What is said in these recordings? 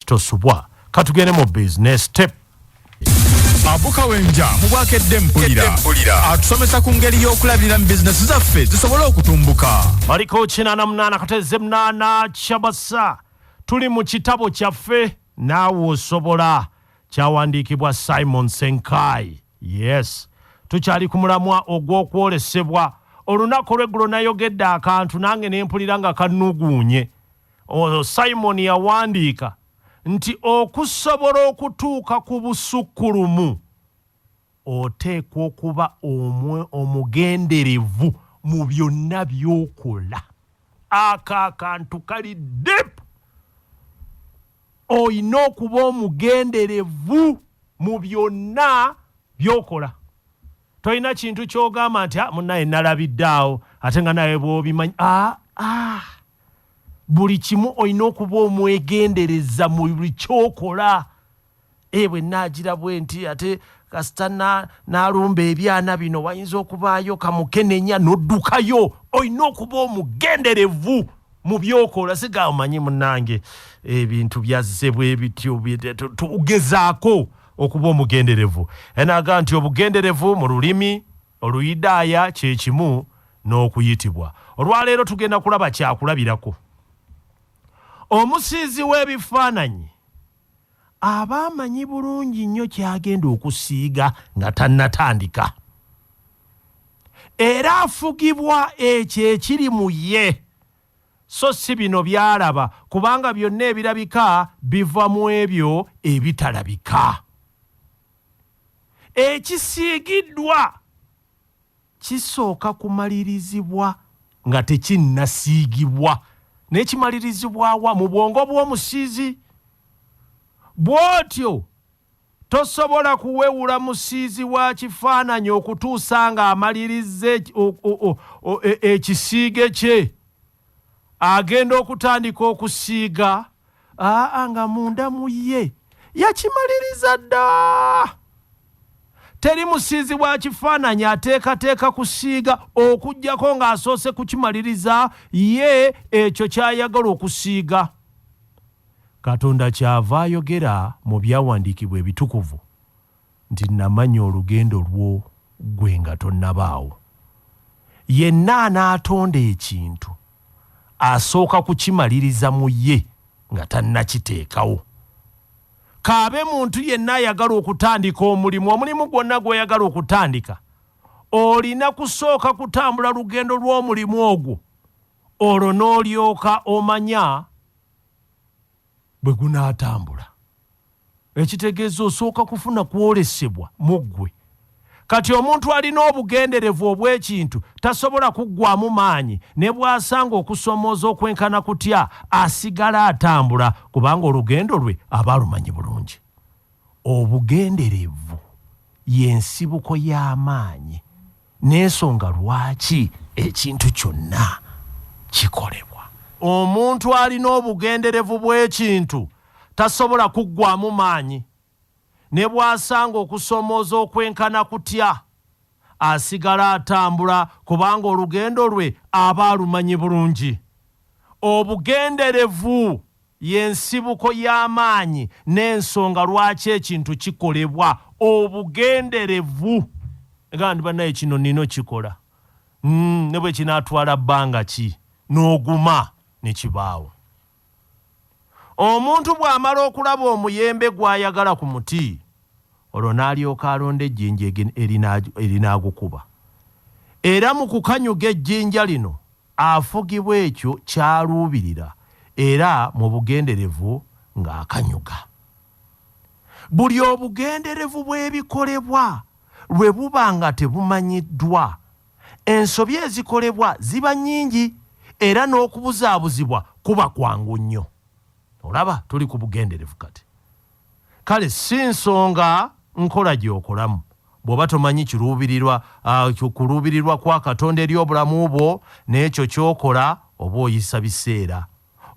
tosubwa katugende mu business step abuka wenja mu bwakedde mpulira atusomesa ku ngeri y'okulabirira mu bizinesi zaffe zisobole okutumbuka maliko 88 kateze munana kyabasa tuli mu kitabo kyaffe naawe osobola kyawandiikibwa simon senkai yes tukyali ku mulamwa ogw'okwolesebwa olunaku olweggulo nayogedde akantu nange nempulira nga kanuguunye Oyo Simon yawandiika nti okusobola okutuuka ku busukkulumu oteekwa okuba omwe omugenderevu mu byonna by'okola ako akantu kali dip olina okuba omugenderevu mu byonna by'okola tolina kintu ky'ogamba nti ah, munaye nalabidde awo ate nga naye bwobimanyi ah, ah. buli kimu olina okuba omwegendereza mu buli kyokola e bwe naagira bwe nti ate kasita n'alumba ebyana bino wayinza okubaayo kamukenenya n'oddukayo olina okuba omugenderevu mu byokola siga omanyi munange ebintu byazze bwe bityo tugezaako okuba omugenderevu enaaga nti obugenderevu mu lulimi Oluyudaaya kye kimu n'okuyitibwa. Olwa leero tugenda kulaba kyakulabirako. Omusiizi w'ebifaananyi aba amanyi bulungi nnyo ky'agenda okusiiga nga tannatandika. Era afugibwa ekyo ekiri mu ye, so si bino by'alaba, kubanga byonna ebirabika biva mu ebyo ebitalabika. ekisiigiddwa kisooka kumalirizibwa nga tekinnasiigibwa naye kimalirizibwawa mu bwongo bw'omusiizi bw'otyo tosobola kuwewula musiizi wa kifaananyi okutuusa ng'amalirizza e, e, ekisiige kye agenda okutandika okusiiga aa nga munda mu ye yakimaliriza dda teri musiizi wa kifaananyi ateekateeka kusiiga okugyako ng'asoose kukimaliriza ye ekyo ky'ayagala okusiiga katonda kyava ayogera mu byawandiikibwa ebitukuvu Nti namanya olugendo lwo ggwe nga tonnabaawo. Yenna anaatonda ekintu asooka kukimaliriza mu ye nga tannakiteekawo. K'abe muntu yenna ayagala okutandika omulimu, omulimu gwonna gw'oyagala okutandika, olina kusooka kutambula lugendo lw'omulimu ogwo olwo n'olyoka omanya. bwe gunaatambula ekitegeeza osooka kufuna kwolesebwa mu ggwe kati omuntu alina obugenderevu obw'ekintu tasobola kuggwamu maanyi ne bw'asanga okusomooza okwenkana kutya asigala atambula kubanga olugendo lwe aba alumanyi bulungi Obugenderevu y'ensibuko y'amaanyi n'esonga lwaki ekintu kyonna kikolebwa. Omuntu alina obugenderevu bw'ekintu tasobola kuggwaamu maanyi. Ne bw'asanga okusoomooza okwenkana kutya, asigala atambula kubanga olugendo lwe aba alumanyi bulungi. Obugenderevu! Ye nsibuko y'amaanyi n'ensonga lwaki ekintu kikolebwa obugenderevu. Ogamba nti, Bannaaye, kino nnina okukikola ne bwe kinaatwala bbanga ki. N'oguma ne kibaawo. Omuntu bw'amala okulaba omuyembe gw'ayagala ku muti, olwo n'alyoka alonda ejjinja erinaagukuba. Era mu kukanyuga ejjinja lino, afugibwa ekyo ky'aluubirira era mu bugenderevu ng'akanyuga. Buli obugenderevu bw'ebikolebwa lwe buba nga tebumanyiddwa, ensobi ezikolebwa ziba nnyingi era n'okubuzaabuzibwa kuba kwangu nnyo. Olaba? Tuli ku bugenderevu kati. Kale si nsonga nkola gy'okolamu, bw'oba tomanyi kiruubirirwa uh, kuluubirirwa kwa Katonda eri obulamu bwo n'ekyo ky'okola, oba oyisa biseera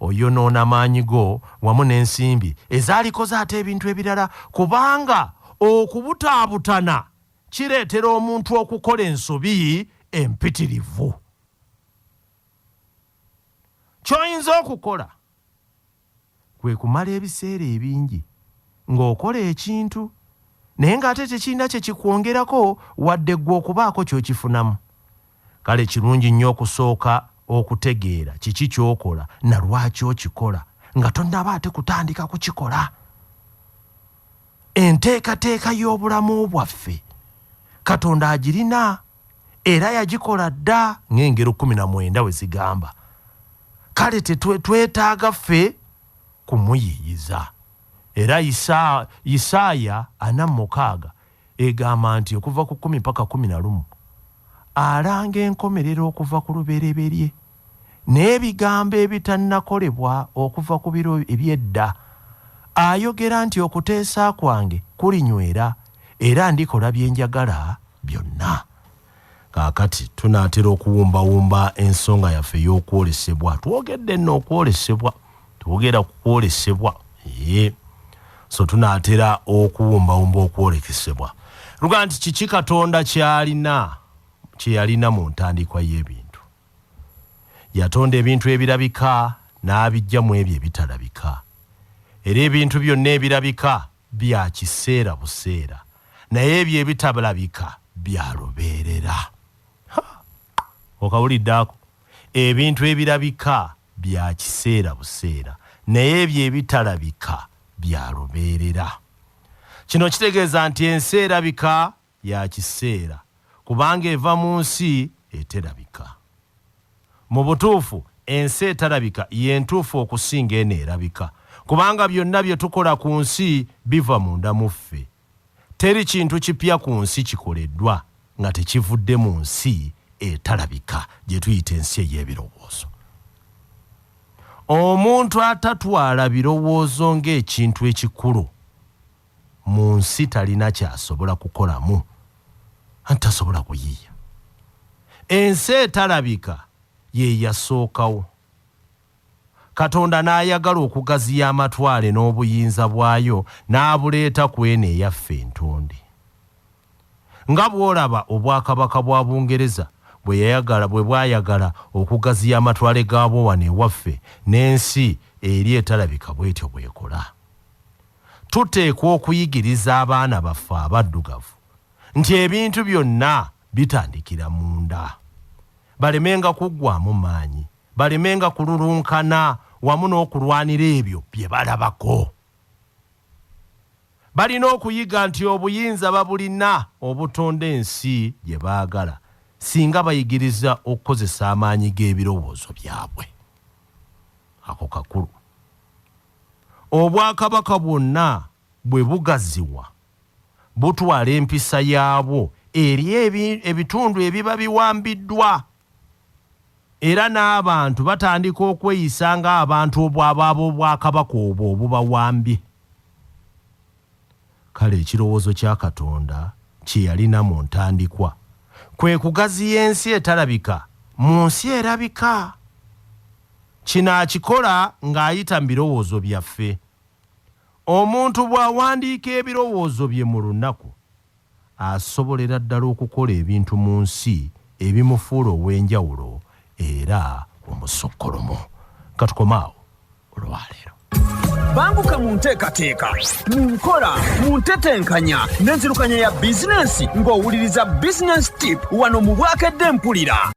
oyonoona maanyi go wamu n'ensimbi ezaalikoze ate ebintu ebirala, kubanga okubutaabutana kireetera omuntu okukola ensobi empitirivu. Ky'oyinza okukola, Kwe kumala ebiseera ebingi ng'okola ekintu naye ng'ate tekirina kye kikwongerako wadde ggwe okubaako ky'okifunamu. Kale kirungi nnyo okusooka okutegeera kiki ky'okola na lwaki okikola nga tonnaba ate kutandika kukikola. enteekateeka y'obulamu bwaffe katonda agirina era yagikola dda ng'engero kumi na mwenda we zigamba kale tetwetaaga ffe kumuyiyiza era isaaya ana mukaaga egamba nti okuva ku kumi paka kumi na lumu alanga enkomerero okuva ku lubereberye n'ebigambo ebitannakolebwa okuva ku biro eby'edda. Ayogera nti, Okuteesa kwange kulinywera, era ndikola bye njagala byonna. Kaakati, tunaatera okuwumbawumba ensonga yaffe ey'okwolesebwa. Twogedde nno okwolesebwa. Twogera ku kwolesebwa. Yee. So tunaatera okuwumbawumba okwolekesebwa. Luga nti, Kiki Katonda ky'alina, kye yalina mu ntandikwa y'ebintu? Yatonda ebintu ebirabika n'abiggya mu ebyo ebitalabika. Era ebintu byonna ebirabika bya kiseera buseera, naye ebyo ebitablabika bya lubeerera. Ha! Okawulidde ako? Ebintu ebirabika bya kiseera buseera, naye ebyo ebitalabika bya lubeerera. Kino kitegeeza nti ensi erabika ya kiseera kubanga eva mu nsi eterabika. Mu butuufu, ensi etarabika ye ntuufu okusinga eno erabika, kubanga byonna bye tukola ku nsi biva munda mu ffe. Teri kintu kipya ku nsi kikoleddwa nga tekivudde mu nsi etarabika, gye tuyita ensi ey'ebirowoozo. Omuntu atatwala birowoozo ng'ekintu ekikulu. munsi talina kyasobola kukolamu anti tasobola kuyiiya ensi etalabika yeyasookawo katonda n'ayagala okugaziya amatwale n'obuyinza bwayo n'abuleeta ku eno eyaffe entonde Nga bw'olaba Obwakabaka bwa Bungereza bwe yayagala bwe bwayagala okugaziya amatwale gaabwo wano ewaffe, n'ensi eri etalabika bw'etyo bw'ekola. Tuteekwa okuyigiriza abaana baffe Abaddugavu nti ebintu byonna bitandikira munda, balemenga kuggwaamu maanyi, balemenga kululunkana wamu n'okulwanira ebyo bye balabako. Balina okuyiga nti obuyinza babulina obutonda ensi gye baagala singa bayigiriza okukozesa amaanyi g'ebirowoozo byabwe. Ako kakulu. Obwakabaka bwonna bwe bugaziwa, butwala empisa yaabwo eri ebitundu ebiba biwambiddwa. era n'abantu batandika okweyisa ng'abantu obwabo ab'obwakabaka obwo obubawambye. Kale ekirowoozo kya Katonda kye yalina mu ntandikwa kwe kugaziya ensi etalabika mu nsi erabika. Kino akikola ng'ayita mu birowoozo byaffe. Omuntu bw'awandiika ebirowoozo bye mu lunaku, asobolera ddala okukola ebintu mu nsi ebimufuula ow'enjawulo era omusukkulumu. Ka tukome awo olwa leero. Banguka mu nteekateeka, mu nkola, mu ntetenkanya n'enzirukanya ya bizinensi ng'owuliriza Business Tip wano mu Bwakedde Mpulira.